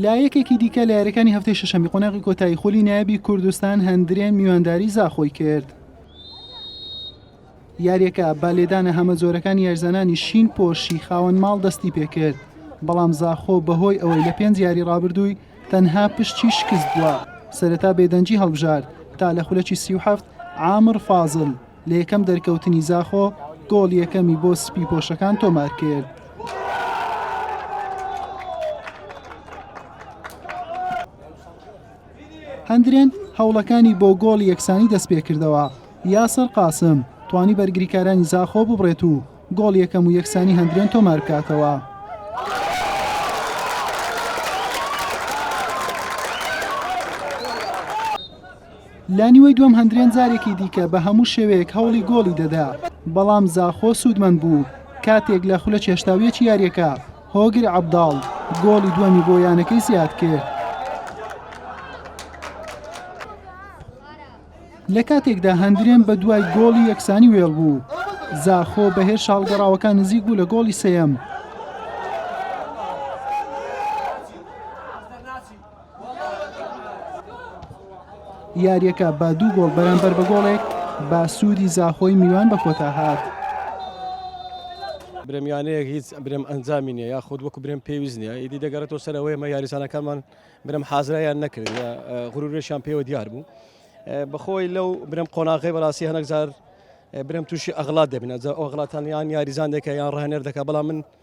لە یەکێکی دیکە لە یاریەکانی هەفتەی شەشەمی قۆناغی کۆتایی خۆلی نایبی کوردستان هەندرێن میوانداری زاخۆی کرد. یاریەکە با لێدانە هەمە جۆرەکانی یارزانانی شین پۆشی خاوەن ماڵ دەستی پێکرد بەڵام زاخۆ بەهۆی ئەوەی لە پێنج یاری ڕابردووی تەنها پشتی شکست بووە سەرەتا بێدەنگی هەڵبژارد تا لە خولەکی سی و هەفت عامر فازل لە یەکەم دەرکەوتنی زاخۆ گۆڵ یەکەمی بۆ سپی پۆشەکان تۆمار کرد. هەندرێن هەوڵەکانی بۆ گۆڵ یەکسانی دەست پێ کردەوە یاسەر قاسم توانی بەرگریکارانی زاخۆ ببڕێت و گۆڵ یەکەم و یەکسانی هەندرێن تۆمار بکاتەوە. لە نیوەی دووەم هەندرێن جارێکی دیکە بە هەموو شێوەیەک هەوڵی گۆڵی دەدا، بەڵام زاخۆ سوودمەند بوو، کاتێک لە خولە چێشتاویەکی یارییەکە هۆگر عەبداڵ گۆڵی دووەمی بۆ یانەکەی زیادکرد. لە کاتێکدا هەندرێن بە دوای گۆڵی یەکسانی وێڵ بوو، زاخۆ بە هێرشە هەڵگەڕاوەکە نزیک بوو لە گۆڵی سێیەم، یارییەکە بە دوو گۆڵ بەرامبەر بە گۆڵێک بە سوودی زاخۆی میوان بە کۆتا هات. برمیانەیەک هیچ برم ئەنجامی نیە یا خود وەکو برم پێویست نیە ئیدی دەگەڕێتەوە سەرەوەی مە یاریزانەکانمان برم حازرایان نەکرد غرورێشان پێوە دیار بوو بەخۆی لەو برم قۆناغی بەڕاستی هەنەکزار برم تووشی ئەغڵات دەبنە ئەوغڵاتانیان یاریزان دەکە یان ڕێنەر دەکە بەڵام من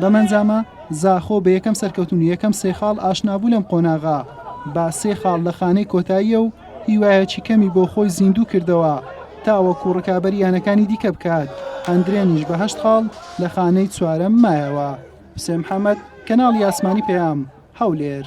بەمەنجامە زاخۆ بە یەکەم سەرکەوتن و یەکەم سێ خاڵ ئاشنابوو لەم قۆناغە با سێ خاڵ لە خانەی کۆتاییە و هیوایەکی کەمی بۆ خۆی زیندوو کردەوە تاوەکو ڕکابەری یانەکانی دیکە بکات ئەندرێنیش بە هەشت خاڵ لە خانەی چوارەم مایەوە. حوسێن محەمەد، کەناڵی ئاسمانی پەیام، هەولێر.